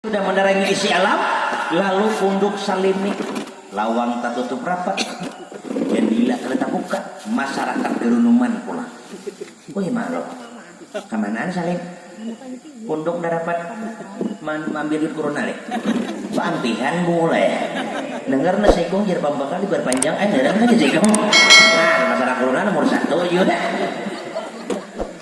Sudah menerangi isi alam, lalu punduk salimik, lawang tatutup rapat, jendila kada tabuka, masarakat garunuman pulang. Wih malu, kamanaan salim? Punduk nda dapat maambil duit kurun ngalih. Paampihan bungul ai. Dengar nda si ikung jar pambakal di barpanjang ai, heran haja si ikung. Nah, masalah kuruna nomor satu jua.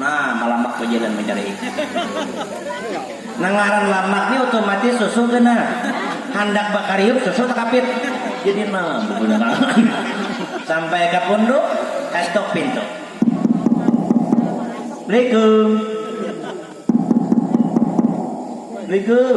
Nah, malamak bajalan mancari ikan. Nang ngaran lamak ni otomatis susu kena. Handak bakariuk susu takapit. Jadi nah, bubunnya kalamaan. Sampai ka punduk, katuk pintu. Assalamualaikum. Assalamualaikum.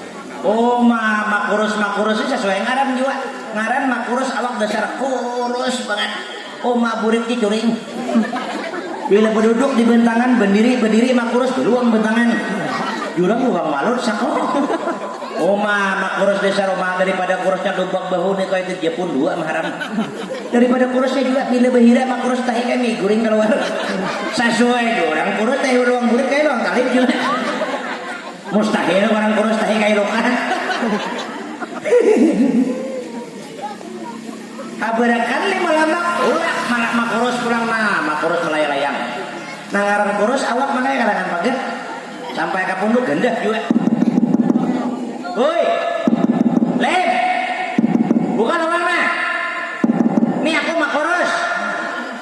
Uma makurus makurus ni sasuai ngaran jua, ngaran makurus awak dasar kurus bangat, uma burit ni curing, bila baduduk di bentangan bandiri badiri makurus baluang bentangan, jurang lubang walut sako, uma makurus dasar uma daripada kurusnya dubak bahu ni kaya tujuh pun dua am haram, daripada kurusnya jua bila bahira makurus tahi kami guring kaluar, sasuai jurang kurus tahi baluang burit kaya luang talib jua. Mustahil orang kurus tahi kairukan. Habarakan lih malamak, ulah malak makurus pulang nah, makurus malayang-layang. Nang ngaran kurus awak makanya kadangan pagat, sampai ka punduk gandak jua. Huy. Leh. Buka lawang nah. Nih aku makurus.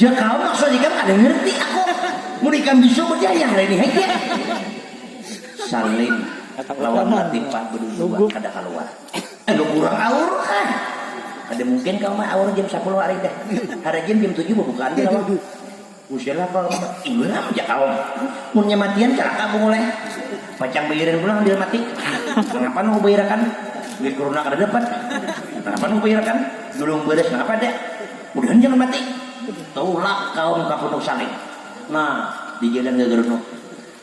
Ya kau maksud ikam kada ngerti aku. Mun ikam bisu berarti hayang reni haja. Salim lawan Latifah bedudua kada kaluar. Anu kurang aur kan. Kada mungkin kau mah aur jam sapuluh hari teh. Harajin jam tujuh bebukaan di lawang. Ujar lah kalo kita, ilam ja kaum, munnya matian calaka bungul ai, pacang bairan pulang bila mati, nangapa nunggu bairakan, duit kuruna kada dapat, nangapa nunggu bairakan, julung baras nangapa ada, mudahan jangan mati, tulak kaum ka punduk saling, nah di jalan gagarunu.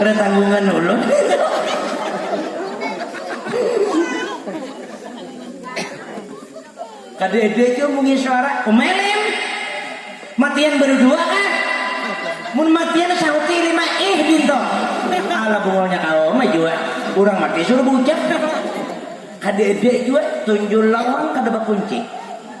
Kada tanggungan ulun. Kadede jua mungi suara kumelem. Matian berdua kah? Mun matian sahuti lima ih dinto. Ala bungolnya kawa mah jua. Urang mati suruh bucak. Kadede jua tunjul lawang kada bakunci.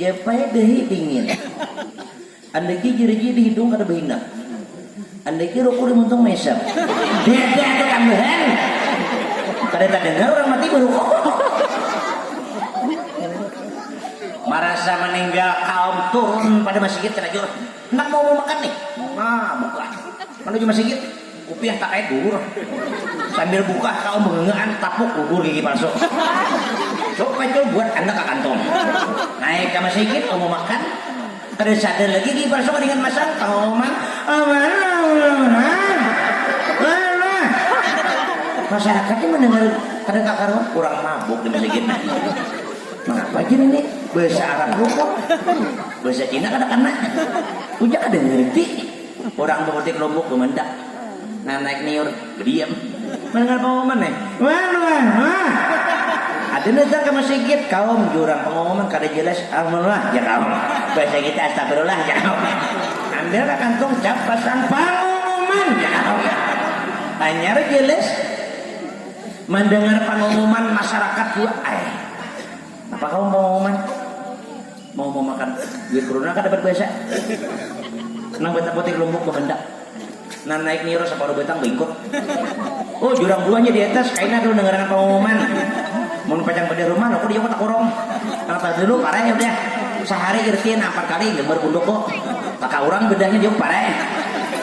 Gepai dehi dingin. Andaki jirigi di hidung kada bahina. Andaki ruku di muntung meser. Dede tu tambahan. Kada tadengar urang mati baruku. Marasa maninggal kaum turun pada masigit kada jua. Handak mau mamakan nih. Nah buka. Manuju masigit. Upiah takait bubur sambil bukah kaum bengengean tapuk bubur gigi palsu cul pacul buat handak ka kantong naik ka masih gin ombo makan kada sadar lagi gigi palsu kadingat masang tangoloman masyarakat ni mandangar kada kakaruan urang mabuk di masih gin napa jar ini bahasa arab luput bahasa cina kada kana ujar kada ngerti. Urang bahutik lubuk bamandak, nang naik niur badiam, mandangar pangawaman ai, wan wan wan, ada nazar ka masigit, kaum jurang pangawaman kada jelas, alhamdulillah jar kaum, bahasa kita astagfirullah jar kaum, ambil ka kantung cap pasang pangawaman jar kaum, hanyar jelas mandangar pangawaman masarakat jua ai. Apa kamu mau mau man? Mau mau makan duit kuruna kada dapat bahasa. Nang batang putih lumbuk bamandak. Nang naik niro saparuh batang baingkut. Oh jurang buahnya di atas kaina tu dengarangan pangumuman. Mun pacang bade rumah loko dioko takurung. Nang tadulu parai ya udah. Sahari irtian ampat kali gambar bunduk ko. Baka urang bedahnya dioko parai.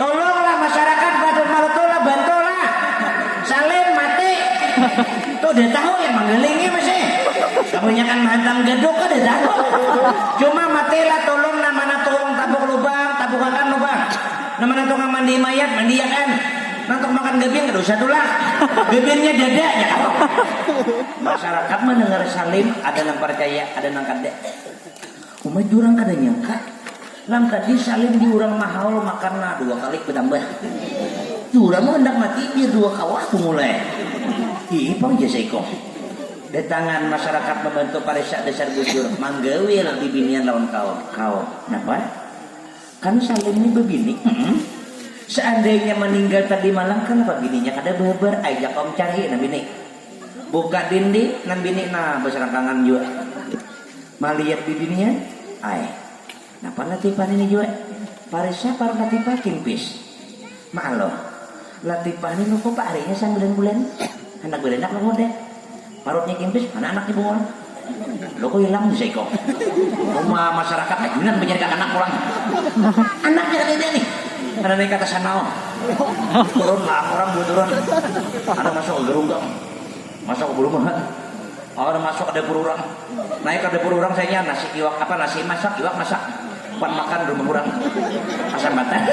Tolonglah masyarakat pada maletolah bantolah Salim mati tuh dah tahu ya manggalingi masih kabanyakan mahantam gaduk kada tahu cuma matilah tolong nah mana tukang tapuk lubang tapukakan lubang nah mana tukang mandi mayat mandiakan nang tukang makan gabin kada usah tulak gabinnya dada nya kawa masyarakat mandangar Salim ada nang parcaya ada nang kada. Uma jurang kada nyangka nang tadi salim di urang mahaul makan na dua kali batambah. Jurang handak mati jar dua kawa tu mulai. Hii pang jar saiko. Datangan masarakat mambantu pariksa dasar bujur manggawil bibinian lawan kaum. Kaum. Napa? Kan salim ni babini? Humm. Seandainya maninggal tadi malam kanapa bininya kada bahabar? Ai ja kaum cari nang bini. Buka dinding nang bini nah basarangkangan jua. Maliat bibinian ai. Napa Latifah nini jua paris sapar Latifah kimpis. Maalum. Latifah ni nukuk ka arinya sambilan bulan. Handak biranak nukuk deh. Parutnya kimpis, mana anaknya bungul. Lo kok hilang bisa ikok. Uma masarakat hajunan banyari kakanak pulang. Anaknya kadada nih. Kada naik kata sanau. Turun lah urang buat turun. Kada masuk ka garunggang. Masuk berumahan, awan masuk ka dapur urang, naik ka dapur urang sainnya nasi iwak apa nasi masak iwak masak pan makan rumah urang kasambatan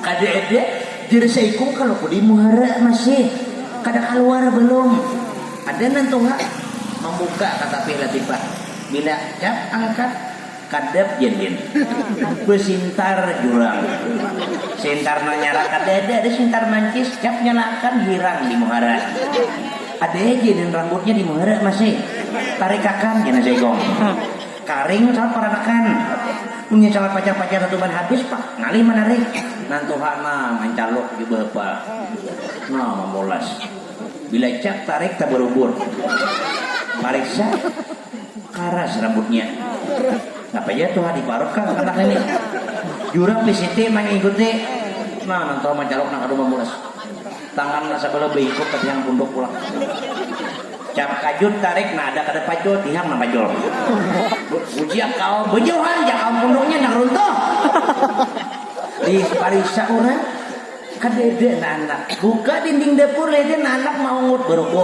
kada ada jar saikung kalo kudi muhara masih kada kaluar balum ada nang tuha mambuka ka tapih latifah bila cap angkat. Kadap jar gin, besintar jurang. Sintar manyarah kadada ada sintar mancis cap nyalakan hirang di muhara. Ada haja dan rambutnya di muhara masih tarikakan kena jaigong. Karing saut paranakan. Munnya saut pacar-pacar satuban habis pak ngalih manarik. Nang tuha ma mancaluk jua bahapa na mamulas. Bila cap tarik tabarubur. Pariksa. Karas rambutnya. Napa ja tuha diparutkan anak ini. Jurang pisiti mangikuti. Nah, nantawa mancaluk nang kada mamulas. Tangan sabalah baikut ka tihang punduk pulang. Cap kajut tarik, nah ada kada pacul, tihang nang pacul. Bujiak kaul, bajauhan ja kaul punduknya nang runtuh. Dipariksa urang, kadada nah anak. Buka dinding dapur, lihat ja nah anak maungut baruku.